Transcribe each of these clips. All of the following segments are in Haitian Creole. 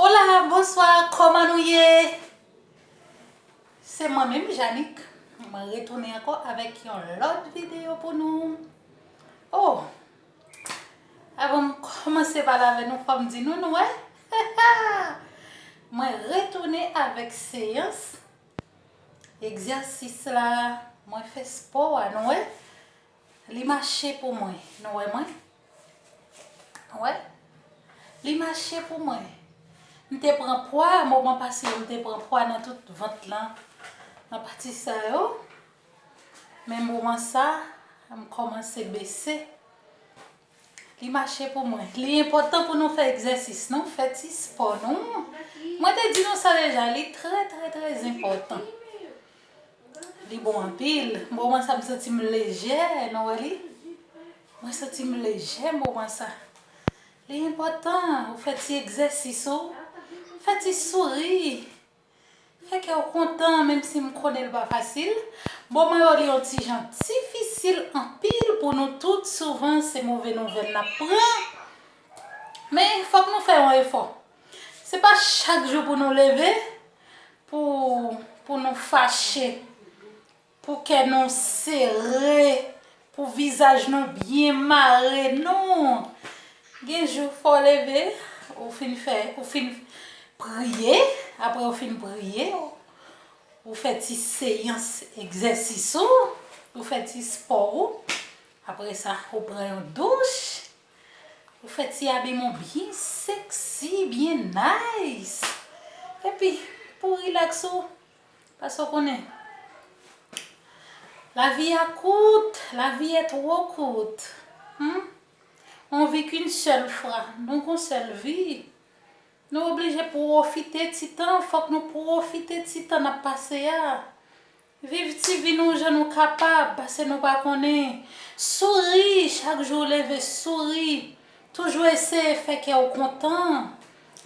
Hola bonswa kòman nou ye se mwen menm Janik mwen retounen ankò avèk yon lòt videyo pou nou oh avan m kòmanse pale avè nou fòm di nou nou wè mwen retounen avèk seyans egzèsis la mwen fè spò a nou wè Li mache pou mwen nou wè mwen wè li mache pou mwen m te pran pwa moman pase yo m te pran pwa nan tout vant lan nan pati sa yo men moman sa m kòmanse bese Li mache pou mwen. Li enpòtan pou nou fè egzèsis nou, fè ti spò nou. Mwen te di nou sa deja, li trè trè trè enpòtan. Li bon anpil. Moman sa m santi m lejè, nou wè li? Mwen santi m lejè moman sa. Li enpòtan ou fè ti egzèsis ou, fè ti souri. Fè kè w kontan menm si m konnen l pa fasil. Bon mwen yo li yon ti jan difisil anpil pou nou tout souvan se move nouvèl n ap pran men fòk nou fè yon efò se pa chak jou pou nou leve pou nou fache. Pou kè nou sere, pou vizaj nou byen mare nou. Gen jou fò w leve, ou fin fè, ou fin priye, aprè ou fin priye, ou fè ti seyans egzèsis ou, ou fè ti spò ou, aprè sa ou pran yon douch, ou fè ti abiman w byen sexy, byen nice. Epi pou relax ou, Paske w konnen. Lavi a kout, la vie est trop courte humm on vit qu'une seule fwa, nou gon sèl vi, nou oblije pwofite ti tan, fòk nou pwofite ti tan nap pase a, viv ti vi nou jan nou kapab pase nou pa konnen, souri chak jou w leve souri, toujou eseye fè kè w kontan,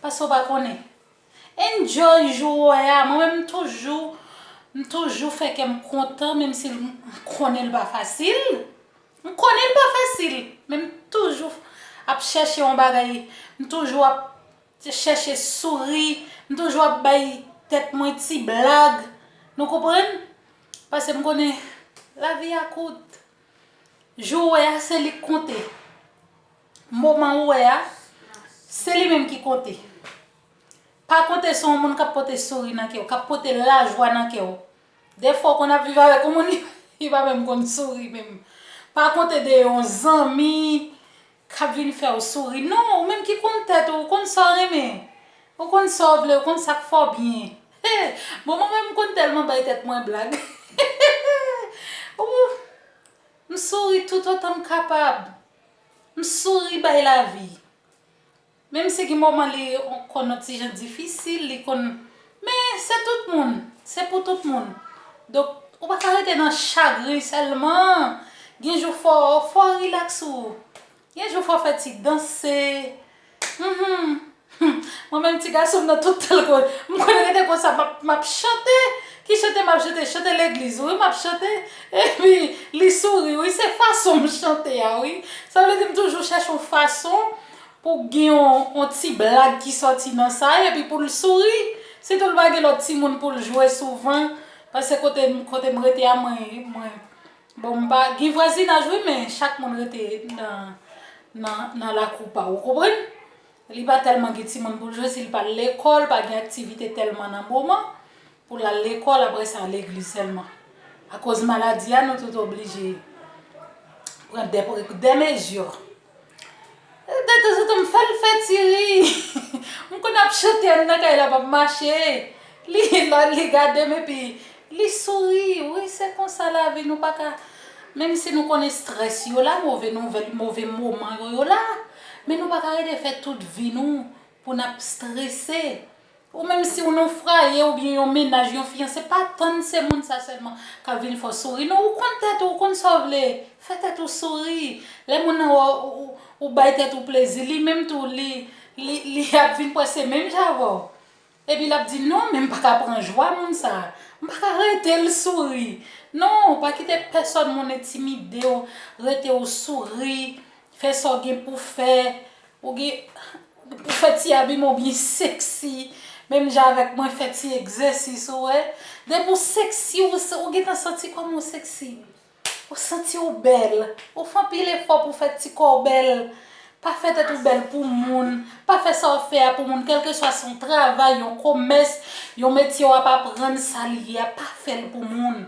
pase w pa konnen. Enjoy jou ou wè a, mwen menm m toujou m toujou fè kèm kontan menm si m konnen l pa fasil, m konnen l pa fasil men m toujou ap chèche yon bagay, m toujou ap chèche souri, m toujou ap bay tèt mwen ti blag nou konprann pase m konnen lavi a kout, jou ou wè a se li k konte. Moman ou wè a, se li menm ki konte. Pa konte sou yon moun k ap pote souri nan kè w, k ap pote lajwa nan kè w. Defwa w konn ap viv avèk yon moun li pa menm konn souri menm. Pa konte de yon zanmi k ap vin fè w souri. Non, ou menm ki konn tèt ou, ou konn sa w renmen. Ou konn sa w vle, ou konn sa k fè w byen. Bon mwen menm m konn tèlman bay tèt mwen blag. Ou, m souri toutotan m kapab. M souri bay lavi. Menm si gen moman li konn on ti jan difisil, li konn men se tout moun, se pou tout moun. Donk ou pa ka rete nan chagren sèlman. Gen jou fò fò rilaks ou. Gen jou fò fè ti danse, Humm mwen menm ti gason m nan tout tan lko m konn rete konsa map map chante ki chante map chante chante legliz wi map chante epi li souri wi se fason m chante a wi sa vle di m toujou chèche yon fason pou gen yon ti blag ki sòti nan sa epi pou l souri sitou l pa gen lòt timoun pou l jwe souvan pase kote m rete a mwen Bon m pa gen vwazinaj wi men chak moun rete nan lakou pa ou konprann li pa tèlman gen timoun pou l jwe si l pa al lekòl pa gen aktivite tèlman nan moman pou l al lekòl aprè sa legliz sèlman akoz maladi a nou tout oblije pran dè mezi. De tanzantan m fè l fè ti ri. M konn ap chante a n nan kay la m ap mache. Li gade m epi li souri. Wi se konsa lavi nou pa ka menm si nou konn estrès yo la move nouvèl move moman yo yo la men nou pa ka rete fè tout vi nou pou n ap strese. Ou menm si w non fraye ou byen yon mennaj yon fiyanse pa tann se moun sa sèlman kap vin fè w souri non ou konn tèt ou ou konn sa w vle fè tèt ou souri lè moun nan wè w ou bay tèt ou plezi li menm tou li li ap vin kwè se menm jan avè w epi lap di non men m paka pran jwa moun sa m paka rete l souri non pa kite pèsòn moun entimide w rete w souri Fè sa w gen pou fè. Ou gen pou fè ti abiman w byen sexy. Menm jan avèk mwen fè ti egzèsis ou wè. Depi w sexy ou gentan santi kòm ou sexy. Ou santi w bèl. Ou fè anpil efò pou w fè ti kò w bèl. Pa fè tèt ou bèl pou moun. Pa fè sa w ap fè a pou moun. Kèlkeswa se yon travay, yon komès, yon metye w ap aprann sa l ye a. Pa fè l pou moun.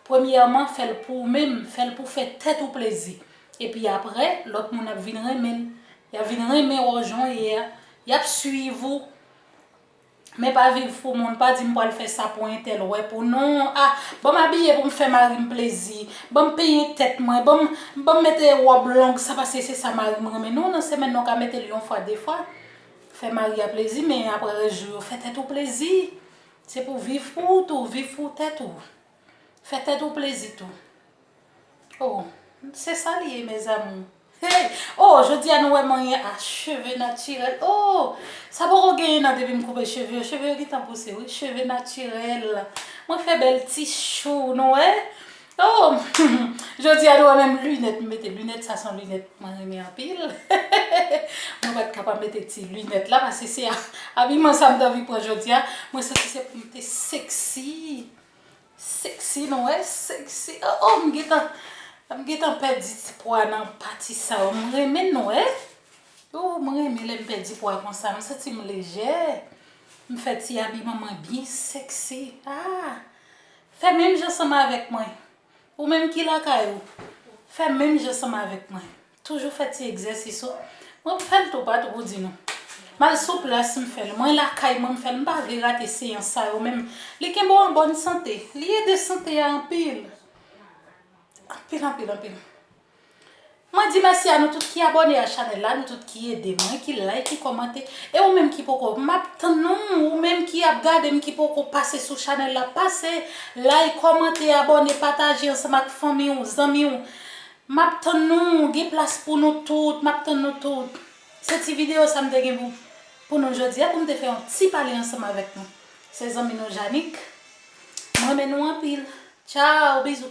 Premyèman fè l pou ou menm. Fè l pou w fè tèt ou plezi. Epi aprè, lòt moun ap vin renmen l. Y ap vin renmen wè w jan w ye a. Y ap suiv ou. Men pa viv pou moun. Pa di m pral fè sa pou entèl wè pou non. A, ban m abiye pou m fè mari m plezi. Ban m penyen tèt mwen. Ban m, ban m mete wòb long sa paske se sa mari m renmen. Non, nan semèn nan w ka mete l yon fwa, de fwa. Fè mari a plezi men aprè rès jou yo fè tèt ou plezi. Se pou viv pou ou tou. Viv pou tèt ou. Fè tèt ou plezi tou. Oh se sa li ye mes amours. Hey oh jodi a nou wè manyen a cheve natirèl oh sa poko genyen nan depi m koupe cheve yo cheve yo gentan pouse wi cheve natirèl mwen fè bèl ti chou nou wè oh humm jodi a nou wè menm linèt m mete linèt sa son linèt mwen renmen anpil hehehehe mwen pat ka pa mete ti linèt la paske se abiman sa m t anvi pran jodi a mwen santi se pou m te sexy. Sexy nou wè sexy oh oh m gentan m gentan pèdi ti pwa nan pati sa yo m renmen nou wè ooh m renmen lèm pèdi pwa konsa m santi m lejè m fè ti abiman mwen byen sexy ah fè menm jan ansanm avèk mwen ou menm ki lakay ou fè menm jan ansanm avèk mwen. Toujou fè ti egzèsis ou. Mwen m fèl tou pat gou di nou. Mal sou plas m fèl. Mwen lakay mwen m fèl. M pa vle rate seyans sa yo menm. Li kenbe w an bòn sante. Li ede sante a anpil. Anpil anpil anpil. Mwen di mèsi a nou tout ki abòne a chanèl la, nou tout ki ede mwen, ki like, ki kòmante. E ou menm ki poko, m ap tann ou, ou menm ki ap gade m ki poko pase sou chanèl la, pase like, kòmante, abòne, pataje ansanm ak fanmi ou, zanmi ou. Map tann nou, gen plas pou nou tout, map tann nou tout. Se ti video sa m te gen pou pou nou jodi a pou m te fè yon ti pale ansanm avèk nou. Se zanmi nou Janik. M renmen nou anpil. Tchao, bizou.